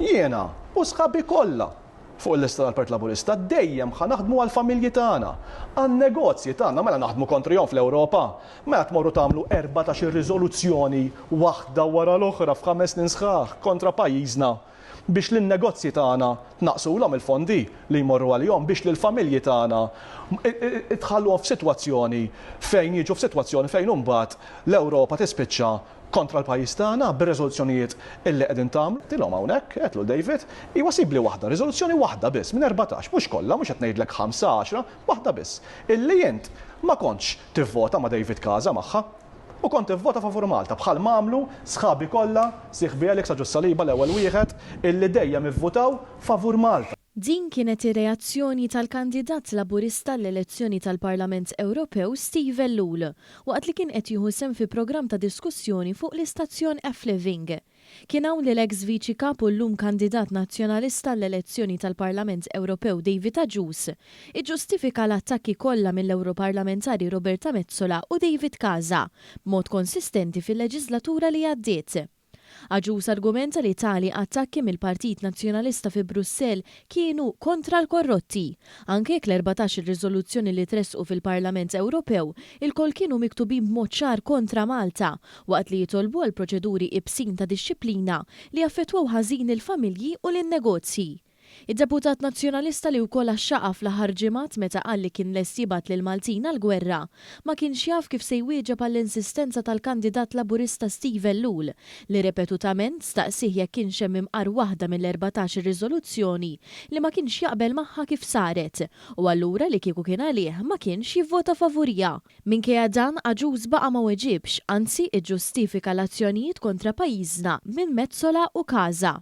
Jiena u sħabi kollha fuq il-lista tal-Partit Laburista dejjem ħa naħdmu għall-familji tagħna, għan-negozji tagħna mela naħdmu kontrihom fl-Ewropa. Mela tmorru tagħmlu 14-il riżoluzzjoni waħda wara l-oħra f'ħames snin sħaħ kontra pajjiżna biex lin-negozji tagħna tnaqqsulhom il-fondi li jmorru għalihom biex lill-familji tagħna tħalluhom f'sitwazzjoni fejn jiġu f'sitwazzjoni fejn imbagħad l-Ewropa tispiċċa kontra l-pajjiż tagħna bir-riżoluzzjonijiet illi qegħdin tagħmlu. Għedtilhom hawnhekk, għedt lil David, iwa sibli waħda, riżoluzzjoni waħda biss minn erbatax, mhux kollha, mhux qed ngħidlek ħamsa, għaxra, waħda biss, illi int ma kontx tivvota ma' David Casa magħha. U kont ivvota favur Malta, bħalma għamlu sħabi kollha, sieħbi Alex ta' Ġus-Saliba l-ewwel wieħed, illi dejjem ivvutaw favur Malta. Din kienet ir-reazzjoni tal-kandidat Laburista għall-elezzjoni tal-Parlament Ewropew Steve Ellul, waqt li kien qed jieħu sehem fi programm ta' diskussjoni fuq l-istazzjon F-Living. Kien hawn li l-eks Viċi Kap u llum kandidat Nazzjonalista għall-elezzjoni tal-Parlament Ewropew David Agius iġġustifika l-attakki kollha mill-Ewroparlamentari Roberta Metsola u David Casa b'mod konsistenti fil-leġislatura li għaddiet. Agius argumenta li tali attakki mill-Partit Nazzjonalista fi Brussell kienu kontra l-korrotti. Anke jekk l-erbatax-il riżoluzzjoni li tressqu fil-Parlament Ewropew ilkoll kienu miktubin b'mod ċar kontra Malta, waqt li jitolbu għal proċeduri ibsin ta' dixxiplina li jaffettwaw ħażin il-familji u lin-negozji. Id-deputat Nazzjonalista li wkoll axxaqha fl-aħħar ġimgħat meta qal li kien lest jibgħat lill-Maltin għall-gwerra, ma kienx jaf kif se jwieġeb għall-insistenza tal-kandidat Laburista Steve Ellul li repetutament staqsih jekk kienx hemm imqar waħda mill-erbatax-il riżoluzzjoni li ma kienx jaqbel magħha kif saret u allura li kieku kien għalih ma kienx jivvota favuriha. Minkejja dan, Agius baqa' ma weġibx, anzi iġġustifika l-azzjonijiet kontra pajjiżna minn Metsola u Casa.